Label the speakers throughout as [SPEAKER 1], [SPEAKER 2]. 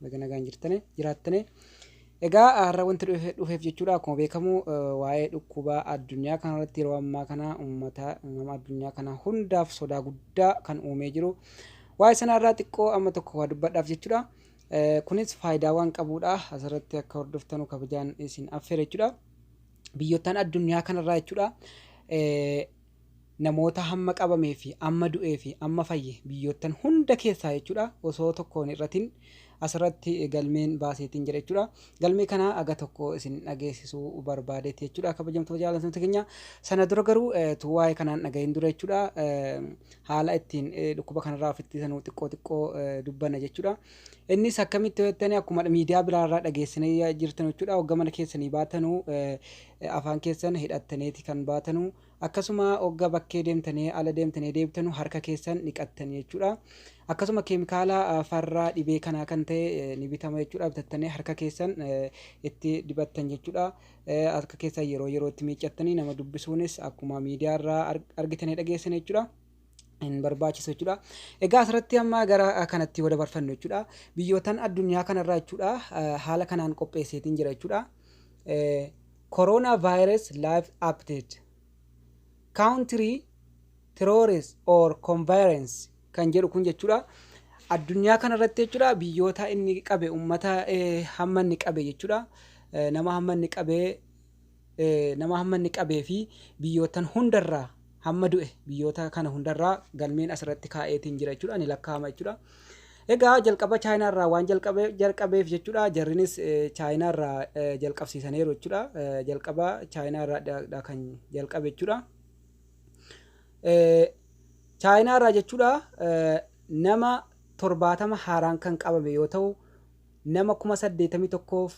[SPEAKER 1] Baga nagaan jirtane jiraattane. Egaa har'a wanti dhufe- dhufeef jechuudha akkuma beekamu eh, waa'ee dhukkuba addunyaa kana irratti yeroo ammaa kana uummata uumama addunyaa kana hundaaf sodaa guddaa kan uumee jiru. Waa'ee sana irraa xiqqoo amma tokko waa dubbadhaaf jechuudha. Eh, Kunis faayidaa waan qabuudha. Asirratti akka hordoftanu kabajaan isin affeera jechuudha. Biyyoottan addunyaa kanarraa jechuudha. Eh, namoota hamma qabamee fi amma du'ee fi amma fayye biyyoottan hunda keessaa jechuudha osoo tokkoon irratin asirratti galmeen baaseetiin jira jechuudha. Galmee kana aga tokko isin dhageessisuu barbaadeeti jechuudha kabajamtoota jaallatamtoota keenya. Sana dura garuu eh, tu waa'ee kanaan dhagahin dura jechuudha eh, haala ittiin eh, dhukkuba kanarraa of ittisanuu xiqqoo xiqqoo eh, dubbanna jechuudha. Innis akkamitti yoo jettanii akkuma miidiyaa biraarraa dhageessinee jirtan jechuudha hogga mana keessanii baatanuu eh, afaan keessan hidhattaneti kan baatanu akkasuma ogga bakkee deemtani ala deemtani deebtanu harka keessan dhiqattani jechuudha akkasuma keemikaala farraa dhibee kanaa kan ta'e ni bitama jechuudha bitattani harka keessan itti dibattan jechuudha harka keessan yeroo yerootti miiccattani nama dubbisuunis akkuma miidiyaa irraa argitanii dhageessan jechuudha. hin barbaachisu jechuudha. Egaa asirratti amma gara kanatti yoo dabarfannu jechuudha. Biyyootan addunyaa kanarraa jechuudha haala kanaan qopheesseetiin jira jechuudha. Corona virus live update. Country terrorist or conference kan jedhu kun jechuudha. Addunyaa kanarratti jechuudha biyyoota inni qabe uummata hamma inni qabe jechuudha. Nama hamma inni qabee nama hamma inni qabee fi biyyoottan hunda irraa hamma du'e biyyoota kana hunda irraa galmeen as irratti kaa'eetiin jira jechuudha ni lakkaa'ama jechuudha. Egaa jalqaba chaayinaa irraa waan jalqabe jalqabeef jechuudha jarrinis eh, chaayinaa irraa eh, jalqabsiisaniiru jechuudha Eh, jalqaba chaayinaa irraa dha- dha kan jalqabe jechuudha. Eh, chaayinaa irraa jechuudha eh, nama torbaatama haaraan kan qabame yoo ta'u nama kuma saddeetamii tokkoof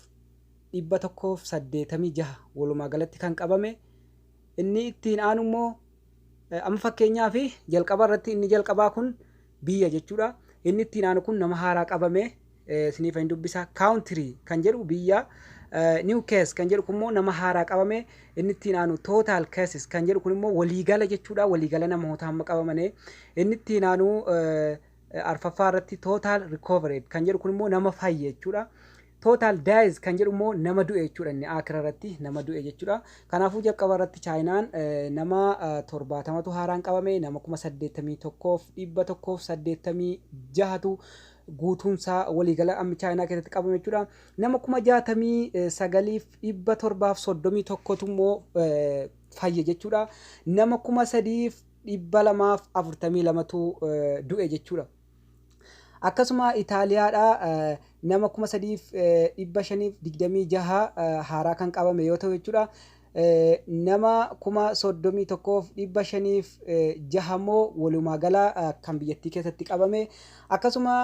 [SPEAKER 1] 186 walumaa galatti kan qabame. Inni ittiin aanu immoo amma fakkeenyaaf jalqaba irratti inni jalqabaa kun biyya jechuudha. Inni ittiin aanu kun nama haaraa qabame isiniif hin dubbisa. Country kan jedhu biyya. New case kan jedhu kun immoo nama haaraa qabame. Inni ittiin aanu total cases kan jedhu kun immoo waliigala jechuudha. Waliigala namoota amma qabamane. Inni ittiin aanu arfaffaa irratti total recovered kan jedhu kun immoo nama fayye jechuudha. Total dies kan jedhu immoo nama du'e jechuudha inni Aakhira irratti nama du'e jechuudha. Kanaafuu jalqaba irratti Chaayinaan nama 70tu haaraan qabame nama 81,186tu guutuun isaa waliigala amma Chaayinaa keessatti qabame jechuudha. Nama 69,731tu immoo fayye jechuudha. Nama 3,242tu du'e jechuudha. Akkasuma Itaaliyaadhaa nama 3,526 haaraa kan qabame yoo ta'u jechuudha. Nama 31,506 immoo walumaa gala kan biyyattii keessatti qabame. Akkasuma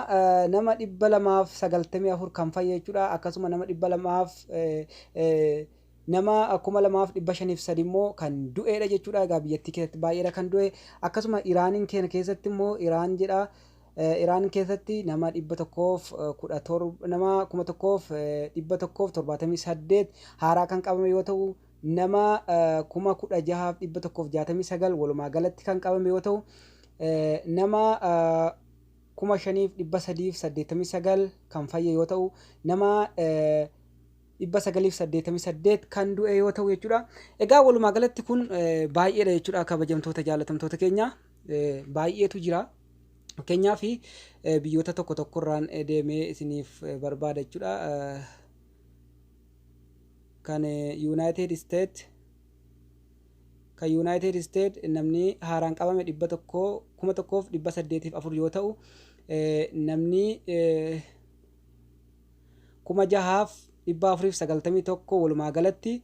[SPEAKER 1] nama 294 kan fayye jechuudha. Akkasuma nama 200 Nama 2503 immoo kan du'eedha jechuudha. Egaa biyyattii keessatti baay'eedha kan du'e. Akkasuma Iraaniin keenya keessatti immoo Iraan jedha. Iraan keessatti nama 117 nama 1178 haaraa kan qabame yoo ta'u nama 16169 walumaa galatti kan qabame yoo ta'u nama 5389 kan fayye yoo ta'u nama 988 kan du'e yoo ta'u jechuudha. Egaa walumaa galatti kun baay'eedha jechuudha kabajamtoota jaalatamtoota keenya baay'eetu jira. Fakkeenyaaf biyyoota tokko tokkorraan deemee isiniif barbaada jechuudha. Kan Yuunaayitid Isteet kan Yuunaayitid Isteet namni haaraan qabame dhibba tokko kuma tokkoof dhibba saddeetiif afur yoo ta'u namni 6491 walumaa galatti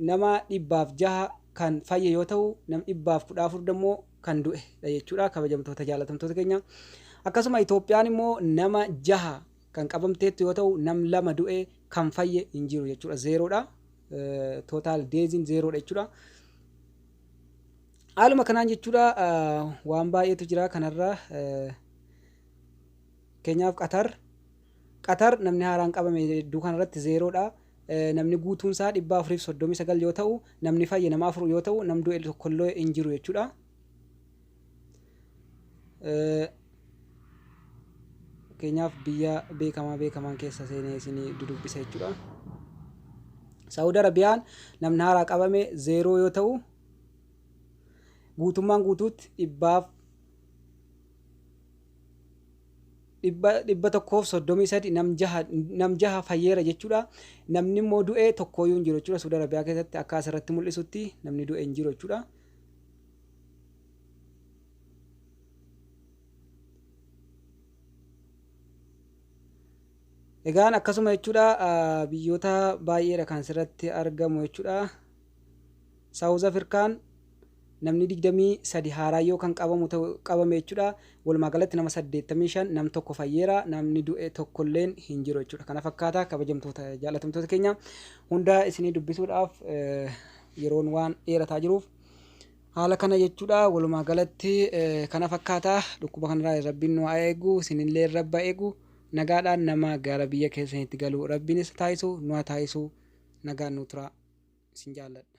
[SPEAKER 1] nama 606 kan fayye yoo ta'u nam 114 dammoo kan du'e dha jechuudha kabajamtoota jaalatamtoota keenya akkasuma Itoophiyaan immoo nama 6 kan qabamteettu yoo ta'u nam 2 du'e kan fayye hin jiru jechuudha zeeroodha tootaal deeziin zeeroodha jechuudha haaluma kanaan jechuudha waan baay'eetu jira kanarra Fakkeenyaaf Qatar, Qatar namni haaraan qabame hedduu kanarratti zeeroodha. Namni guutuunsaa 439 yoo ta'u, namni fayye nama afur yoo ta'u, nam du'e tokkollee hin jiru jechuudha. Fakkeenyaaf biyya beekamaa beekamaan keessa seenee isin dudubbisa jechuudha. Saawud Arabiyaan namni haaraa qabame zeeroo yoo ta'u, guutummaan guutuutti dhibbaaf 133 nam jaha nam jaha fayyeera jechuudha. Namni immoo du'e tokkooyyuu hin jiru jechuudha. Suudi Arabiyaa keessatti akka asirratti mul'isutti namni du'e hin jiru jechuudha. Egaan akkasuma jechuudha biyyoota baay'eedha kan asirratti argamu jechuudha. Saawuz Afirkaan namni 23 haaraan yoo kan qabamu ta'u qabame jechuudha. Walumaa galatti nama 85 nam tokko fayyeera. Namni du'e tokkolleen hin jiru jechuudha. Kana fakkaata kabajamtoota jaalatamtoota keenya hunda isinii dubbisuudhaaf yeroon waan dheerataa jiruuf haala kana jechuudha. Walumaa galatti kana fakkaata dhukkuba kanarraa rabbiin nu haa eegu isinillee rabba eegu. Nagaadhaan nama gara biyya keessaniitti galu rabbiin isa taasisu nu haa taasisu nagaan nuu turaa isin jaalladha.